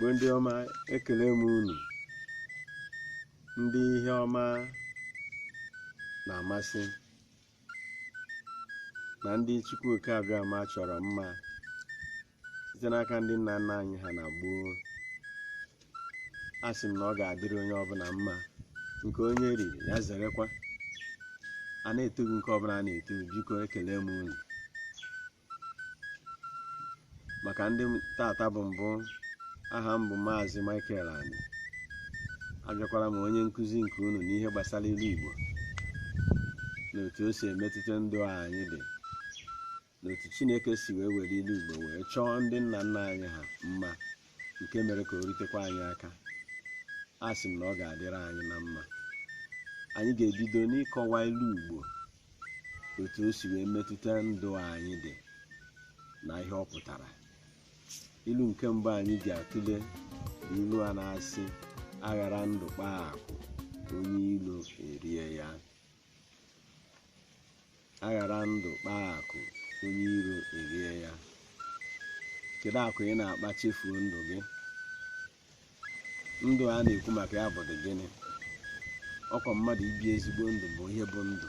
igbo ndị ọma ekele m unu ndị ihe ọma na-amasị na ndị Chukwu Oke Abịama chọrọ mma site n'aka ndị nna nna anyị ha na gboo a sị m na ọ ga-adịrị onye ọbụla mma nke onye riri ya zerekwa a na-etu gị nke ọbụla a na-eto gị, biko ekele m unu maka ndị m- tata bụ mbụ aha m bụ maazị Michael Ani abịakwara m onye nkụzi nke unu n'ihe gbasara ilu Igbo na otu o si emetụta ndụ anyị dị na otu chineke si wee were ilu igbo wee chọọ ndị nna nna anyị ha mma nke mere ka o rutekwa anyị aka a sị m na ọ ga-adịrị anyị na mma anyị ga-ebido n'ịkọwa ilu igbo otu o si wee metụta ndụ anyị dị na ihe ọ pụtara ilu nke mbụ anyị ga-atụle bụ ilu a na-asị aghara ndụ kpaa akụ onye ilo erie ya aghara ndụ kpaa akụ onye iro erie ya kedu akụ ị na-akpa chefuo ndụ gị ndụ a na-ekwu maka ya bụdị gịnị ọkwa mmadụ ibi ezigbo ndụ bụ ihe bụ ndụ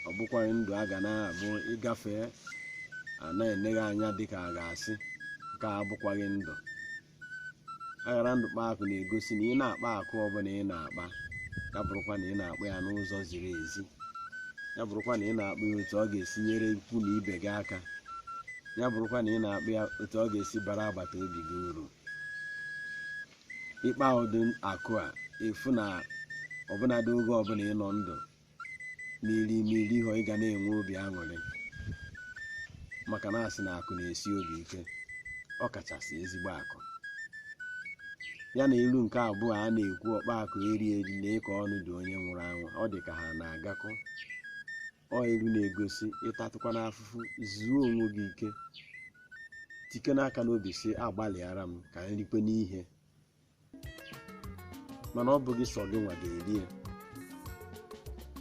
ọ bụkwaghị ndụ a ga na-abụ ị gafee a na-ene gị anya dịka a ga-asị nke a abụkwaghị ndụ aghara ndụ kpaa akụ na-egosi na ị na-akpa akụ ọbụla ị na-akpa ya bụrụkwa na ị na-akpa ya n'ụzọ ziri ezi ya bụrụkwa na ị na-akpa ya otu ọ ga-esi nyere ikwu na ibe gị aka ya bụrụkwa na ị na-akpa ya otu ọ ga-esi bara agbata obi gị uru ị kpaa ụdị akụ a ị fụ na ọbụnadị oge ọbụla ị nọ ndụ ma i ri ma i righị ị ga na-enwe obi aṅụrị maka na a sị na akụ na-esi obi ike ọ kachasị ezigbo akụ ya na ilu nke abụọ a na-ekwu ọkpa akụ eri eri nee ka ọnụ dị onye nwụrụ anwụ ọ dị ka ha na-agakọ o ilu na-egosi ị tatụkwanụ afụfụ zuo onwe gị ike tikene aka n'obi sị agbalịara m ka m rikwenụ ihe mana ọ bụghị sọ gị nwa ga-eri ya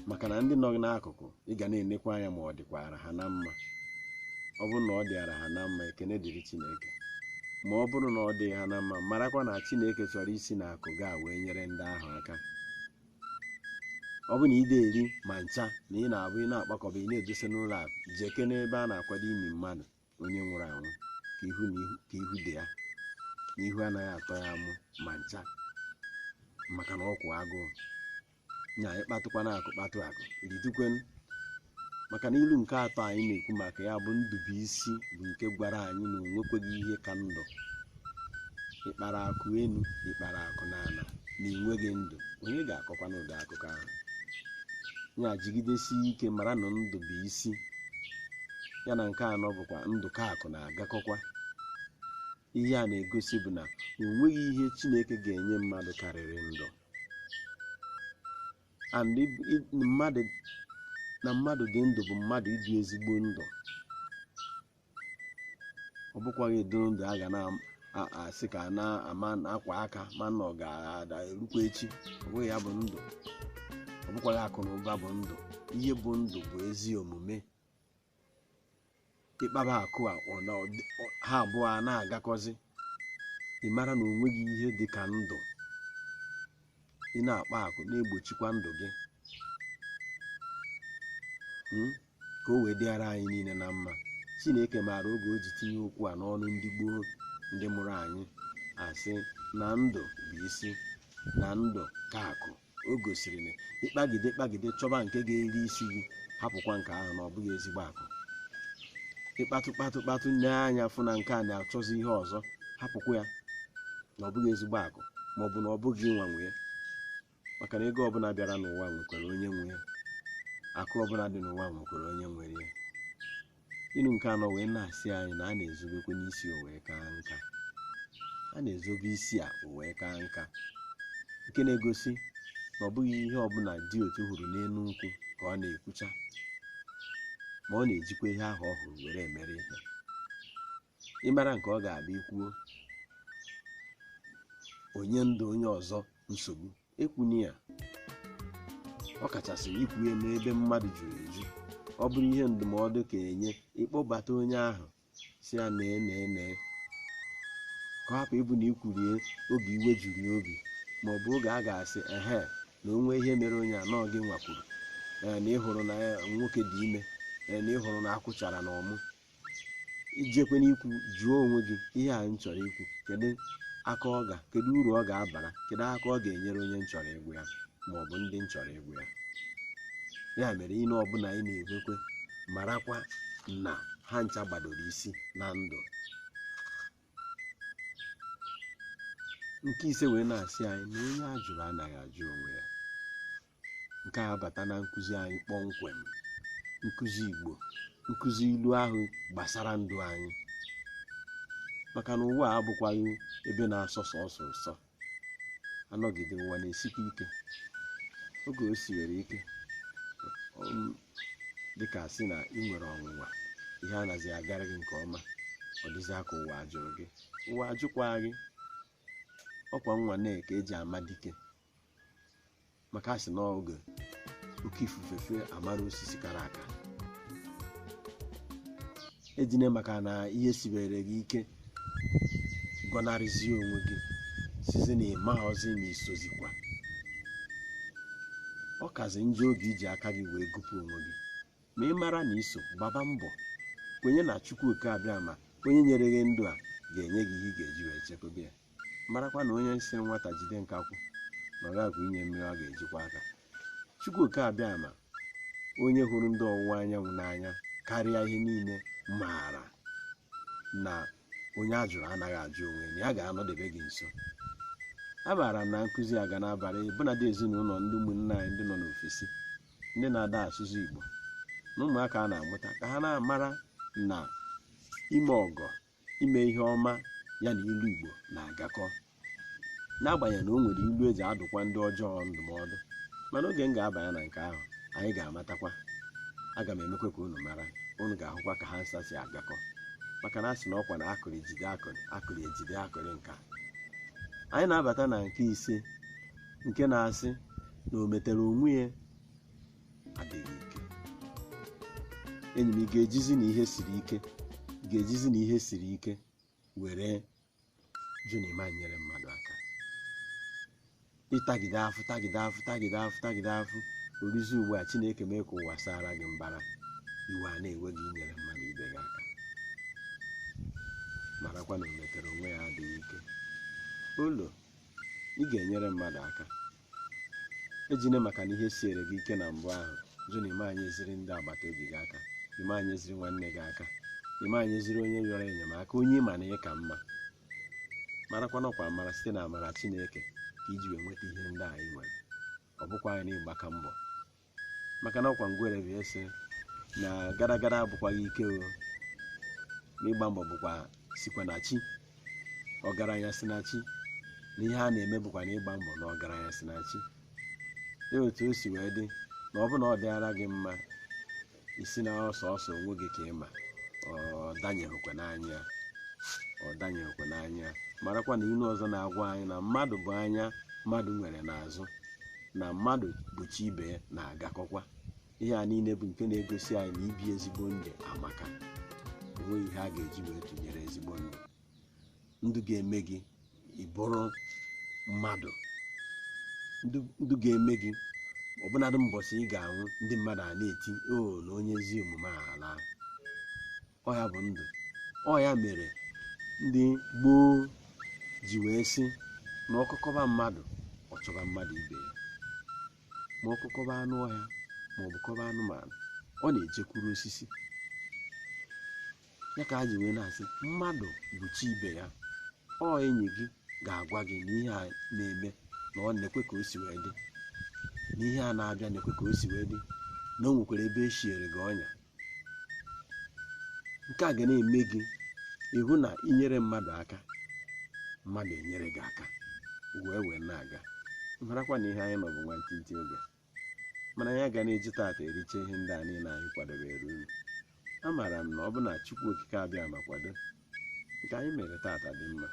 maka na ndị nọ gị n'akụkụ ị ga na-enekwa anya ma ọ dịkwara ha na mma ọ bụrụ na ọ dịara ha na mma ekene dịrị chineke ma ọ bụrụ na ọ dịghị ha na mma marakwa na chineke chọrọ isi n'akụ gị a wee nyere ndị ahụ aka ọ bụ na ị dịghị eri ma ncha na ị na-abụ ị na-akpakọba ị na-edosa n'ụlọ akụ jekene ebe a na-akwado ini mmadụ onye nwụrụ anwụ ka ihu na ihu ka ihu dị ya na ihu anaghị atọ ya amụ ma ncha maka na ọ kwụ agụụ nya ị kpatụkwanụ akụ kpatụ akụ rijukwenu maka na ilu nke atọ anyị na-ekwu maka ya bụ ndụ bụ isi bụ nke gwara anyị na o nwekweghị ihe ka ndụ ị kpara akụ enu ị kpara akụ n'ala na i nweghị ndụ onye ga-akọkwanụ ụdị akụkọ ahụ ya jigidesie ike mara na ndụ bụ isi ya na nke anọ bụkwa ndụ ka akụ na-agakọkwa ihe a na-egosi bụ na o nweghị ihe chineke ga-enye mmadụ karịrị ndụ and ib- ib- mmadụ na mmadụ ịdị ndụ bụ mmadụ ibi ezigbo ndụ ọ bụkwaghị dịrị ndụ a ga na-asị ka na-amakwa aka ma na ọ ga-erukwa echi ọ bụghị ya bụ ndụ ọ bụkwaghị akụ na ụba bụ ndụ ihe bụ ndụ bụ ezi omume ị kpaba akụ a ọ na- ọ dị- ọ- ha abụọ a na-agakọzi ị mara na o nweghị ihe dị ka ndụ ị na-akpa akụ na-egbochikwa ndụ gị Mm? ka o wee dịara anyị niile na mma chineke maara oge o ji tinye okwu a n'ọnụ ndị gboo ndị mụrụ anyị asị na ndụ bụ isi na ndụ ka akụ o gosiri na ị kpagide kpagide chọba nke ga-eri isi gị hapụkwa nke ahụ na ọ bụghị ezigbo akụ ị kpatụ kpatụ kpatụ nee anya fụ na nke a na-achọzi ihe ọzọ hapụkwa ya na ọ bụghị ezigbo akụ ma ọ bụ na ọ bụghị gị nwa nwe ya maka na ego ọbụla bịara n'ụwa nwekwara onye nwe ya akụ ọbụla dị n'ụwa nwekwara onye nwere ya ilu nke anọ wee na-asị anyị na a na-ezobekwanụ isi o wee kaa nka a na-ezobe isi a o wee kaa nka nke na-egosi na ọ bụghị ihe ọbụla di otu hụrụ n'elu nkwụ ka ọ na-ekwucha ma ọ na-ejikwa ihe ahụ ọ hụrụ were emere ihe ị mara nke ọ ga-abụ i kwuo o nye ndụ onye ọzọ nsogbu ekwune ya ọ kachasị ikwu ya n'ebe mmadụ juru eju ọ bụrụ ihe ndụmọdụ ka enye ị kpọbata onye ahụ sị ya nee nee nee ka ọ hapụ ịbụ na i kwuru ya oge iwe juru ya obi ma ọ bụ oge a ga-asị ehe na o nwee ihe mere onye a na ọọ gị nwa kwuru ee na ị hụrụ na ya nwoke dị ime ee na ị hụrụ na akwụ chara na ọmụ i jekwenụ ikwu jụọ onwe gị ihe a m chọrọ ikwu kedu aka ọ ga kedu uru ọ ga-abara kedu aka ọ ga-enyere onye m chọrọ ịgwa ya ma ọ bụ ndị m chọrọ ịgwa ya ya mere ilu ọbụla anyị na-ekwukwa marakwa na ha ncha gbadoro isi na ndụ nke ise wee na-asị anyị na onye a jụrụ anaghị ajụ onwe ya nke a bata na nkụzi anyị kpọmkwem nkụzi igbo nkụzi ilu ahụ gbasara ndụ anyị maka na ụwa a abụkwaghị ebe na-asọ sọsọ ụsọ anọgide ụwa na-esikwa ike oge o siwere ike um, dịka si na ị nwere ọnwụnwa ihe anaghị agara gị nke ọma ọ dịzịa ka ụwa ajụrụ gị ụwa ajụkwaghị gị ọkwa nnwane ka eji ama dike maka a sị na oge oke ifufe fee a mara osisi kara aka ejine maka na ihe sibere gị ike gọnarịzie onwe gị sizi na ị mazị ma i sozikwa ọ kazi njọ oge iji aka gị wee gụpụ onwe gị ma ị mara na i so gbaba mbọ kwenye na Chukwu oke abịama onye nyere gị ndụ a ga-enye gị ihe ị ga-eji wee chekwaba ya marakwa na onye sịrị nwata jide nkakwụ na ọ ga-enye ya mmiri ọ ga-eji kwọ aka chukwu oke abịama onye hụrụ ndị ọwụwa anyanwụ n'anya karịa ihe niile mara na onye a jụrụ anaghị ajụ onwe na ya ga-anọdebe gị nso a maara na nkụzi a ga na-abara bụnadị ezinụlọ ndị ụmụnne anyị ndị nọ n'ofesi ndị na ada asụ igbo na ụmụaka a na-amụta ka ha na-amara na ime ọgọ ime ihe ọma ya na ilu Igbo na-agakọ n'agbanyeghị na o nwere ilu eji adụkwa ndị ọjọọ ndụmọdụ mana oge m ga-abanye na nke ahụ anyị ga-amatakwa aga m emekwa ka unu mara unu ga-ahụkwa ka ha nsa si agakọ maka na a sị na ọkwa na akụrụ ejide akụrụ akụrụ ejide akụrụ ka anyị na-abata na nke ise nke na-asị na o metere onwe ya adịghị ike enyi m ị ga-ejizi na ihe siri ike ị ga-ejizi na ihe siri ike were jụ na ị ma-enyere mmadụ aka ị tagide afụ tagide afụ tagide afụ tagide afụ o ruzie ugbu a chineke mee ka ụwa sara gị mbara iwe a na-ewe gị inyere mmadụ ibe gị aka marakwa na o metere onwe ya adịghị ike ụlọ ị ga-enyere mmadụ aka ejine maka na ihe siere gị ike na mbụ ahụ jụ na ị ma-enyeziri ndị agbata obi gị aka ị ma-enyeziri nwanne gị aka ị ma-enyeziri onye yọrọ enyemaka onye ị ma na ị ka mma marakwa na ọkwa amara site na amara chineke ka iji wee nweta ihe ndị ahụ ị nwere ọ bụkwaghị na ị gbaka mbọ maka na ọkwa ngwere bịa sị na gara gara abụkwaghị ike o na ịgba mbọ bụkwa sikwa na chi ọgaranya si na chi na ihe a na-eme bụkwa na ịgba mbọ na ọgaranya si na chi dị otu o si wee dị na ọ bụ na ọ dịara gị mma ị sị na ọ sọsọ onwe gị ka ị ma ọ danyeghịkwa n'anya ọ danyeghịkwa n'anya marakwa na ilu ọzọ na-agwa anyị na mmadụ bụ anya mmadụ nwere n'azụ na mmadụ bụ chi ibe ya na-agakọkwa ihe a niile bụ nke na-egosi anyị na ibi ezigbo ndụ amaka o nweghị ihe a ga-eji wee tụnyere ezigbo ndụ ndụ ga-eme gị ị bụrụ mmadụ ndụ ga-eme gị ọbụnadụ mbọsị ị ga-anwụ ndị mmadụ a na-eti o oh, na onye ezi omume ala ọ ya bụ ndụ ọ ya mere ndị gboo ji wee sị na ọkọ kọba mmadụ ọ chọba mmadụ ibe ya ma ọkọ kọba anụ ọhịa ma ọ bụ kọba anụmanụ ọ na-ejekwuru osisi ya ka a ji wee na-asị mmadụ bụ chi ibe ya ọ enyi gị ga-agwa gị na ihe a na-eme na nekwa ka o si wee dị na ihe a na-abịa nekwa ka o si wee dị na o nwekwara ebe e siere gị ọnya nke a ga na-eme gị ị hụ na i nyere mmadụ aka mmadụ enyere gị aka wee wee na-aga marakwa na ihe anyị nọ bụ nwantịntị oge mana anyị agaghị eji taata ericha ihe ndị a niile anyị kwadobere unu amaara m na ọ bụ na chukwu okike abịa ma kwado nke anyị mere taata dị mma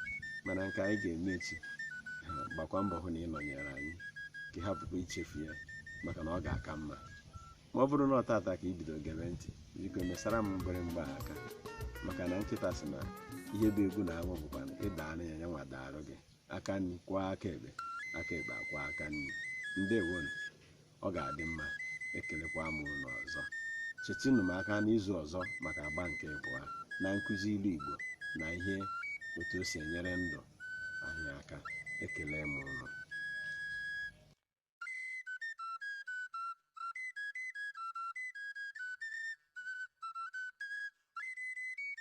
mana nke anyị ga-eme echi ha, gbakwa mbọ hụ na ị nọnyere anyị ka ị hapụkwa ichefu ya maka na ọ ga-aka mma ma ọ bụrụ na ọ taata ka i bido ige m ntị biko mesara m mgbịrịmgba a aka maka na nkịta sị na ihe bụ egwu na amụ bụkwa na ị daara ya ya nwa daara gị aka nri kwọọ aka ekpe aka ekpe akwọọ aka nri ndewonu ọ ga-adị mma ekelekwa m unu ọzọ chetinụ m aka n'izu ọzọ maka agba nke abụọ na nkụzi ilu igbo na ihe otu o si enyere ndụ anyị aka ekele m unu